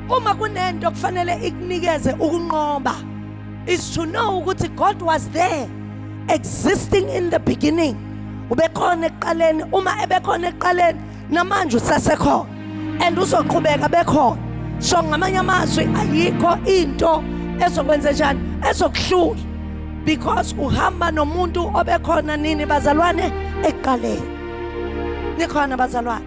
Uma kunento kufanele ikunikeze ukunqoba is to know ukuthi God was there existing in the beginning. Ubekhona ekuqaleni, uma ebekhona ekuqaleni namanje usasekhona and uzoqhubeka bekhona. So ngamanye amazwi ayikho into ezokwenza njani ezokuhlula because uhamba nomuntu obekhona nini bazalwane ekuqaleni. Nikhona bazalwane.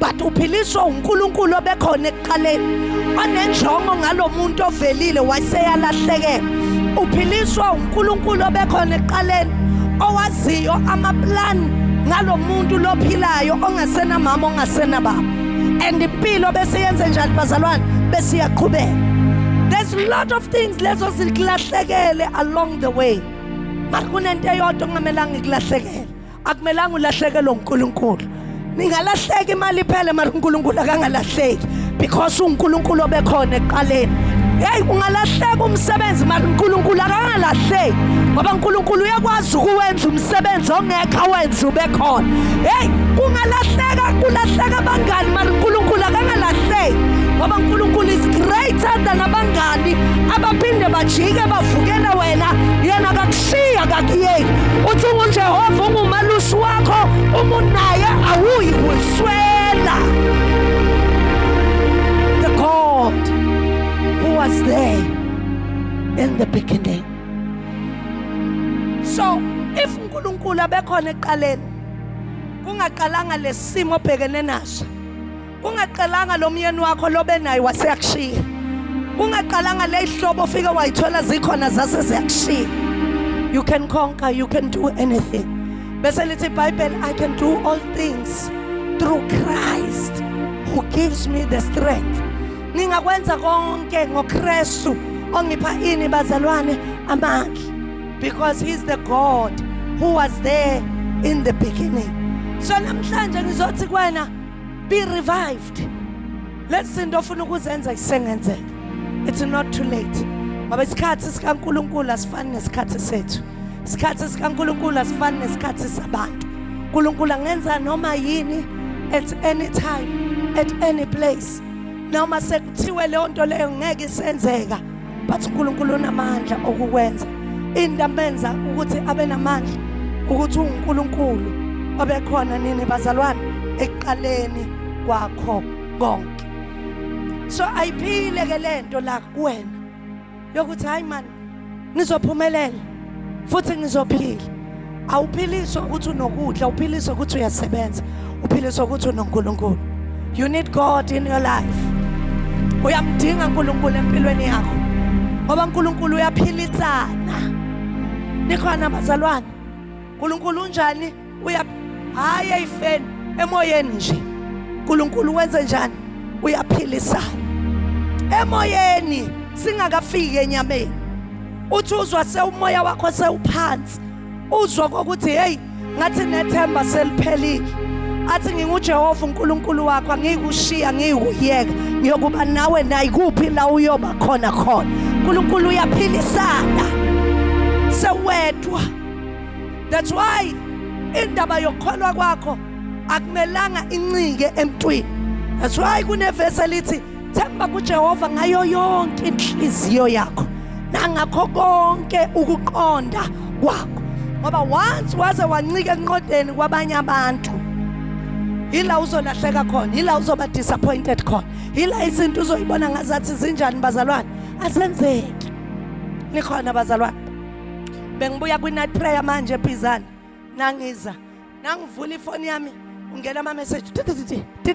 but uphiliswa uNkulunkulu obekhona ekuqaleni onenjongo ngalomuntu ovelile waseyalahlekela uphiliswa uNkulunkulu obekhona ekuqaleni owaziyo amaplan ngalomuntu lophilayo ongasena mama ongasena baba and impilo bese yenze njani bazalwane bese iyaqhubeka there's a lot of things lezo zilahlekele along the way mara kunento eyodwa kungamelanga ikulahlekele akumelanga ulahlekelwe uNkulunkulu ningalahleka imali iphele mara uNkulunkulu akangalahleki because uNkulunkulu obekhona ekuqaleni hey ungalahleka umsebenzi mara uNkulunkulu akangalahleki ngoba uNkulunkulu uyakwazi ukuwenza umsebenzi ongekho awenze ubekhona hey kungalahleka kulahleka abangani mara uNkulunkulu akangalahleki ngoba uNkulunkulu is greater than abangani abaphinde bajike bavukele wena yena shiya kakuyeki uthi ungujehova ungumalusi wakho uma unaye awuyi kuswela the god who was there in the beginning so if unkulunkulu abekhona ekuqaleni kungaqalanga lesimo obhekene naso Kungaqalanga lo myeni wakho lobe naye waseyakushiya. Kungaqalanga le ihlobo ofike wayithola zikhona zase ziyakushiya. You can conquer, you can do anything. Bese lithi iBhayibheli I can do all things through Christ who gives me the strength. Ningakwenza konke ngoKristu ongipha ini bazalwane amandla because he's the God who was there in the beginning. So namhlanje ngizothi kwena be revived lezi zinto ofuna ukuzenza isengenzeka it's not too late ngoba isikhathi sikaNkuluNkulu asifani nesikhathi sethu isikhathi sikaNkuluNkulu asifani nesikhathi sabantu uNkuluNkulu angenza noma yini at any time at any place noma sekuthiwe leyo nto leyo ngeke isenzeka bathi uNkulunkulu unamandla okukwenza into amenza ukuthi abe namandla ukuthi uNkulunkulu obekhona nini bazalwane ekuqaleni kwakho konke so ayiphile ke lento la kuwena yokuthi hayi man nizophumelela futhi ngizophila awuphiliswa ukuthi unokudla uphiliswa ukuthi uyasebenza uphiliswa ukuthi unonkulunkulu you need god in your life uyamdinga unkulunkulu empilweni yakho ngoba unkulunkulu uyaphilisana nikhona bazalwane unkulunkulu unjani uya hayi ayifeni emoyeni nje uNkulunkulu wenze njani uyaphilisa emoyeni singakafiki enyameni uthi uzwa sewumoya wakho sewuphansi uzwa kokuthi hey ngathi nethemba seliphelile athi nginguJehova uNkulunkulu wakho angikushiya ngiyikuyeka ngiyokuba nawe nayikuphi la uyoba khona khona uNkulunkulu uyaphilisana sewedwa That's why indaba yokukholwa kwakho akumelanga incike emntwini. That's why kunevesi elithi themba kuJehova ngayo yonke inhliziyo yakho nangakho konke ukuqonda kwakho. Ngoba once waze wancika enqodeni kwabanye abantu yila uzolahleka khona yila uzoba disappointed khona yila izinto uzoyibona ngazathi zinjani bazalwane asenzeki nikhona bazalwane bengibuya kwi-night prayer manje ebhizana nangiza nangivula ifoni yami ungena amameseji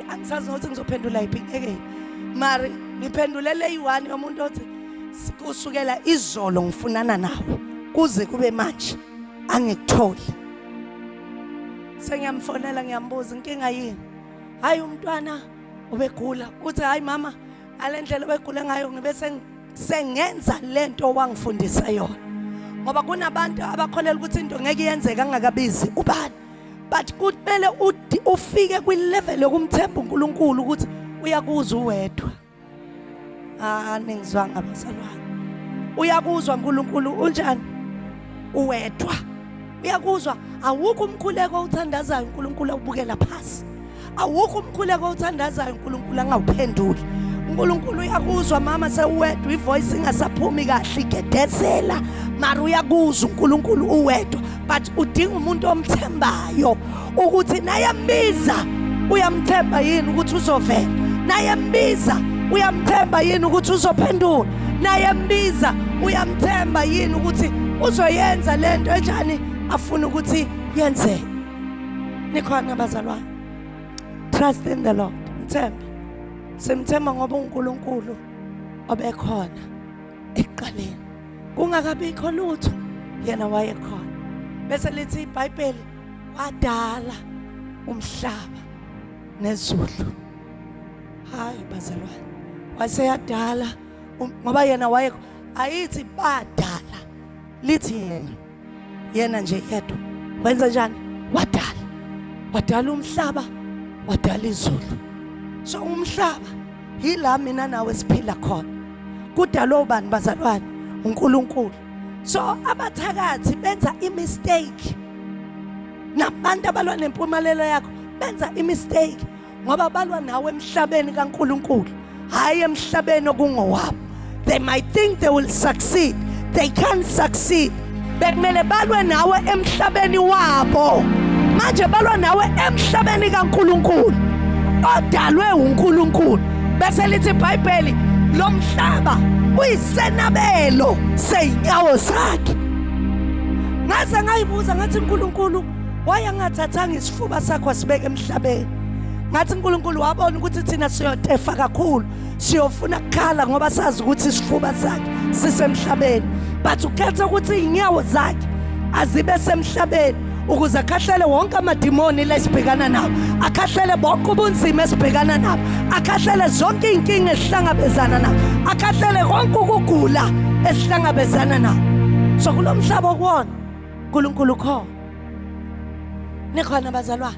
angisazi nokuthi ngizophendula yiphi ngeke mari ngiphendulele eyi-one yomuntu othi kusukela izolo ngifunana nawe kuze kube manje angikutholi sengiyamfonela ngiyambuza inkinga yini hhayi umntwana ubegula uthi hhayi mama ngale ndlela obegula ngayo ngibe sengenza le nto owangifundisa yona ngoba kunabantu abakholela ukuthi into ngeke yenzeka angakabizi ubani but kumele ufike kwilevel yokumthemba uNkulunkulu ukuthi uyakuzwa uwedwa ah ningizwanga bazalwane uyakuzwa uNkulunkulu unjani uwedwa uyakuzwa awukho umkhuleko othandazayo uNkulunkulu awubukela phansi awukho umkhuleko othandazayo uNkulunkulu angawuphenduli uNkulunkulu uyakuzwa mama sewedwa ivoice ingasaphumi kahle igedezela mara uyakuzwa uNkulunkulu uwedwa but udinga umuntu omthembayo ukuthi naye mbiza uyamthemba yini ukuthi uzovela naye mbiza uyamthemba yini ukuthi uzophendula naye mbiza uyamthemba yini ukuthi uzoyenza lento enjani afuna ukuthi yenzeke nikhona bazalwa trust in the lord mthembe simthemba ngoba unkulunkulu obekhona ekuqaleni kungakabikho lutho yena wayekhona bese lithi ibhayibheli wadala umhlaba nezulu hayi bazalwane waseyadala um, ngoba yena waye ayithi badala lithi yena yena nje yedwa wenza njani wadala wadala umhlaba wadala izulu so umhlaba yila mina nawe siphila khona kudalwa ubani bazalwane uNkulunkulu so abathakathi benza imistake nabantu abalwa nempumelelo yakho benza imistake ngoba balwa nawe emhlabeni kaNkuluNkulu hayi emhlabeni okungowabo they might think they will succeed they can't succeed bekumele balwe nawe emhlabeni wabo manje balwa nawe emhlabeni kaNkuluNkulu odalwe uNkuluNkulu bese lithi iBhayibheli lo mhlaba uyisenabelo seyinyawo zakhe ngaze ngayibuza ngathi uNkulunkulu Why angathathanga isifuba sakho asibeke emhlabeni? Ngathi uNkulunkulu wabona ukuthi thina siyotefa kakhulu. Siyofuna kukhala ngoba sazi ukuthi isifuba sakhe sisemhlabeni. But ukhetha ukuthi inyawo zakhe azibe semhlabeni ukuze akhahlele wonke amadimoni lesibhekana nawo akhahlele bonke ubunzima esibhekana nabo akhahlele zonke iy'nkinga esihlangabezana nabo akhahlele konke ukugula esihlangabezana nabo so kulo mhlaba okuwona uNkulunkulu ukhona. Nikhona bazalwane?